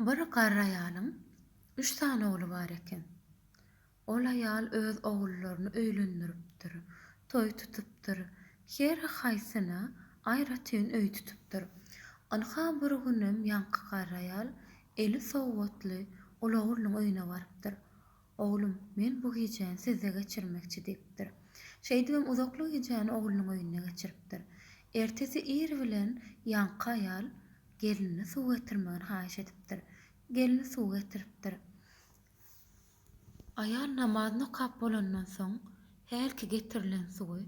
Bir garry aýalyň üç sany ogly bar eken. Ol aýal öz ogullaryny öýlendiripdir, toý tutupdyr, her haýsyna aýratyn öý tutupdyr. Ynha, bir günem ýaňky garry aýal eli sowgatly ol oglunyň öýüne barypdyr. Oglum, men bu gijäni sizde geçirmekçi diýipdir. Şeýdibem uzakly gijäni oglunyň öýünde geçiripdir. Ertesi ir bilen ýaňky aýal gelnine suw getirmegini haýyş edipdir. Gelni suw getiripdir. Aýal namazyny okap bolandan soň, hälki getirilen suwy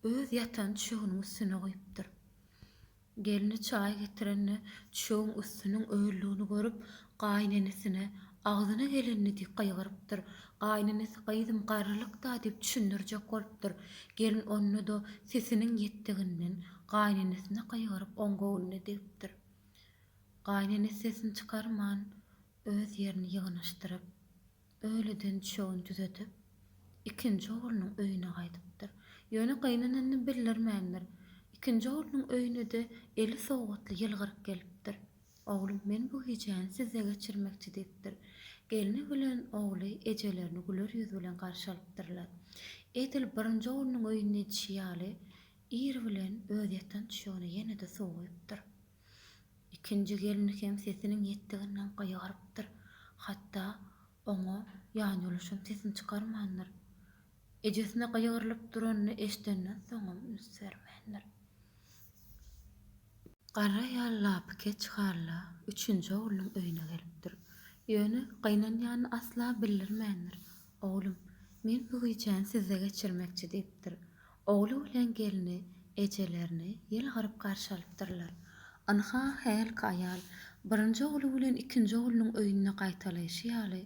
öz ýatan düşeginiň üstüne guýupdyr. Gelni çaý getirende çöň üstüniň ölüdigini görüp, gaýynenesine, agzyna gelenini diýip gygyrypdyr. Gaýynenesi gyzym garrylyk-da diýip düşündirjek bolupdyr. Gelin onda-da sesiniň ýetdiginden gaýynenesine gygyryp oň göwnüne degipdir. Gaýynenesi sesini çykarman öz ýerini ýygnaşdyryp. Öýleden düşegini düzedip, ikinji oglunyň öýüne gaýdypdyr. Ýöne gaýyneneni bildirmändir. Ikinji oglunyň öýüne-de eli sowgatly ýylgyryp gelipdir. Oglum, men bu gijäni sizde geçirmekçi, diýipdir. Gelni bilen ogly ejelerini güler ýüz bilen garşy alypdyrlar. Edil birinji oglunyň öýünde edişi ýaly, ir bilen öz ýatan düşegine ýene-de suw guýupdyr. Ikinji gelin hem sesiniň ýetdiginden gygyrypdyr, hatda oňa ýanýoluşam sesini çykarmandyr. Ejesine gygyrylyp duranyny eşidenden soňam üns bermändir. Garry aýal lapykeç halla üçünji oglunyň öýüne gelipdir. Ýöne gynanýanyny asla bildirmändir. Oglum, men bu gijäni sizde geçirmekçi diýipdir. Ogly bilen gelni ejelerini ýylgyryp garşy alypdyrlar. Ynha, hälki aýal birinji ogly bilen ikinji oglunyň öýünde gaýtalaýşy ýaly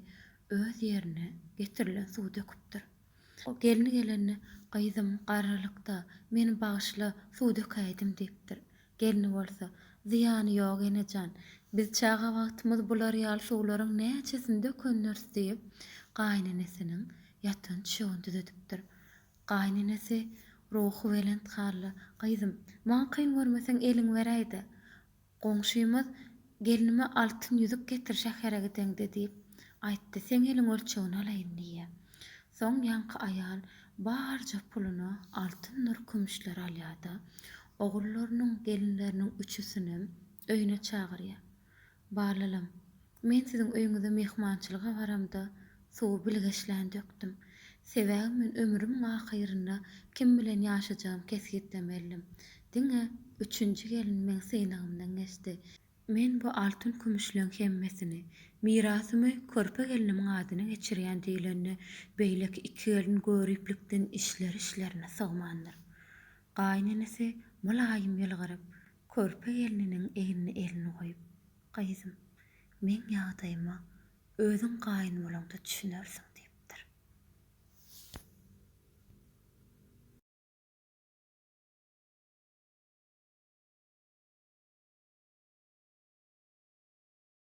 öz ýerine getirilen suwy döküpdir. Gelni gelende, Gyzym, garrylykda, meni bagyşla, suw dökäýdim diýipdir. Gelni bolsa, Zyýany ýok, ene jan. Biz çaga wagtymyz bular ýaly suwlaryň näçesini dökendiris diýip, gaýynenesiniň ýatan çögüni düzedipdir. Gaýynenesi ruhubelent hally, Gyzym, maňa kyn görmeseň eliňi beräý-de, goňşymyz gelnime altyn ýüzük getir şähere gideňde diýip aýtdy, seň eliň ölçegini alaýyn diýýär. Soň ýaňky aýal barja puluna altyndyr kümüşleri alýar-da, ogullarynyň, gelinleriniň üçüsinem öýüne çagyrýar. Balalam, Men siziň öýüňize myhmançylyga baramda, suwy bilgeşlän dökdüm. Sebäbi men ömrümiň ahyrynda kim bilen ýaşajagymy kesgitlemelidim. Diňe üçünji gelin meň synagymdan geçdi. Men bu altyn-kümüşleň hemmesini, mirasymy körpe gelnimiň adyna geçirýän diýlende, beýleki iki gelin göriplikden içleri-içlerine sygmandyr. Gaýynenesi mylaýym ýylgyryp, körpe gelniniň egnine elini goýup. Gyzym, meň ýagdaýyma özüň gaýyn bolaňda düşünersiň, diýipdir.